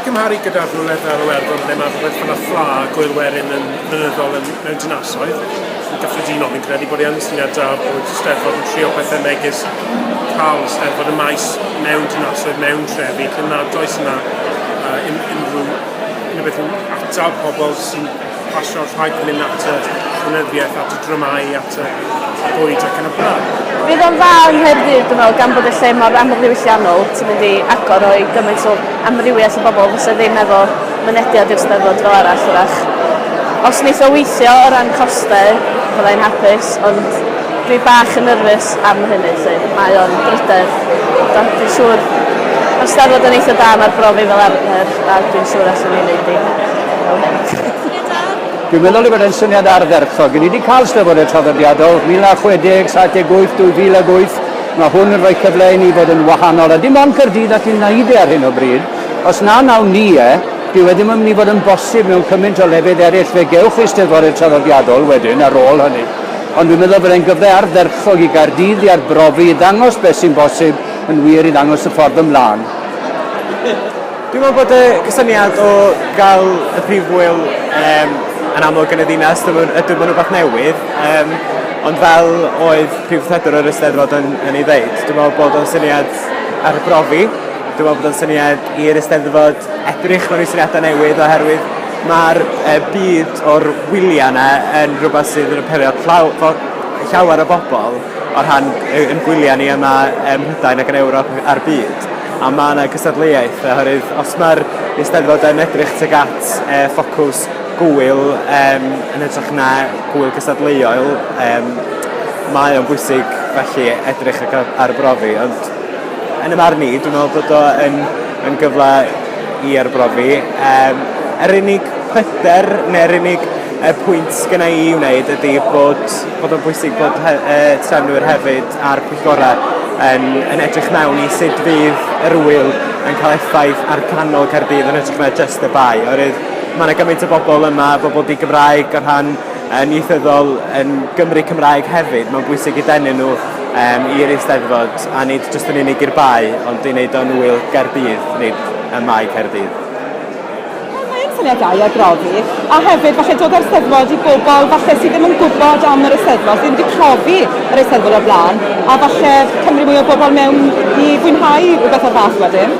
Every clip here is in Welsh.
I gymharu gyda rhywle fel Iwerddon ble mae rhywbeth fel y ffla a Gŵyl Werin yn flynyddol yn, mewn dinasoedd, yn gyffredinol fi'n credu bod e yn syniad da bod Steddfod yn trio pethau megis cael Steddfod y Maes mewn dinasoedd, mewn trefi lle nad oes yna yy un- unrhyw unrhyw beth i'w atal pobl sy'n pasio'r rhaid mynd at y llenyddiaeth, at y dramâu, at y bwyd ac yn y blaen. Bydd o'n dda yng Nghaerdydd, dwi'n meddwl, gan bod y lle mor amlddiwylliannol, ti'n mynd i agor o i gymaint o amrywiaeth o bobl fysa ddim efo mynediad i'r Steddfod fel arall, wrach. Os wneith o weithio o ran costau, fydda i'n hapus, ond Fi bach yn nyrfys am hynny 'lly, mae o'n drydedd, ond dwi'n siŵr ma'r Steddfod yn eitha da, ma'r brofi fel arfer a dwi'n siŵr allwn ni neud hi fel hyn. Dwi'n meddwl ei fod e'n syniad ardderchog. Ni wedi cael Steddfodau traddodiadol, 1960, 78, 2008. Mae hwn yn rhoi cyfle i ni fod yn wahanol, a dim ond Caerdydd all ni'n wneud e ar hyn o bryd. Os na wnawn ni e, dyw e ddim yn mynd i fod yn bosib mewn cymaint o lefydd eraill. Fe gewch chi Steddfodau traddodiadol wedyn ar ôl hynny. Ond dwi'n meddwl bod e'n gyfle ardderchog i Gaerdydd i arbrofi, i ddangos beth sy'n bosib yn wir, i ddangos y ffordd ymlaen. Dwi'n meddwl bod y cysyniad o gael y prif ŵyl um, yn amlwg yn y ddinas, ydw maen nhw'n rhywbeth newydd, um, ond fel oedd prif wrthredwr yr Eisteddfod yn, yn ei ddeud, dwi'n meddwl bod o'n syniad ar y brofi, dwi'n meddwl bod o'n syniad i'r Eisteddfod edrych mewn i syniadau newydd oherwydd Mae'r yy byd o'r wyliau yna yn rhywbeth sydd yn apelio at llaw- fo- llawer o bobl o rhan yy ein gwyliau ni yma ym Mhrydain ac yn Ewrop a'r byd a ma' 'na gystadleuaeth oherwydd os ma'r Eisteddfod yn edrych tuag at yy ffocws gŵyl yym yn hytrach na gŵyl cystadleuol yym mae o'n bwysig felly edrych ar gy- arbrofi ond Yn 'y marn i, dwi'n meddwl bod o yn yn gyfle i arbrofi. Yym, yr unig pryder, neu'r unig yy pwynt sgynna i i wneud ydy bod bod o'n bwysig bod he- yy trefnwyr hefyd a'r pwyllgora' yn yn edrych mewn i sut fydd yr ŵyl yn ca'l effaith ar canol Caerdydd yn hytrach na jyst y Bae oherwydd ma' 'na gymaint o bobol yma, bobol di-Gymraeg o rhan yn ieithyddol yn Gymry Cymraeg hefyd, mae'n bwysig i denu nhw um, i'r Eisteddfod, a nid jyst yn unig i'r bae, ond i wneud o'n wyl Gaerdydd, nid y mae Caerdydd. Wel, mae yn syniad da i arbrofi, a hefyd falle dod â'r Eisteddfod i bobl falle sydd ddim yn gwybod am yr Eisteddfod, sydd wedi profi yr Eisteddfod o'r blaen, a falle cymryd mwy o bobl mewn i fwynhau rhywbeth o'r fath wedyn.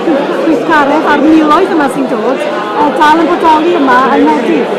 Gweithgaredd ar miloedd yma sy'n dod, dal yn bodoli yma yng Nghaerdydd.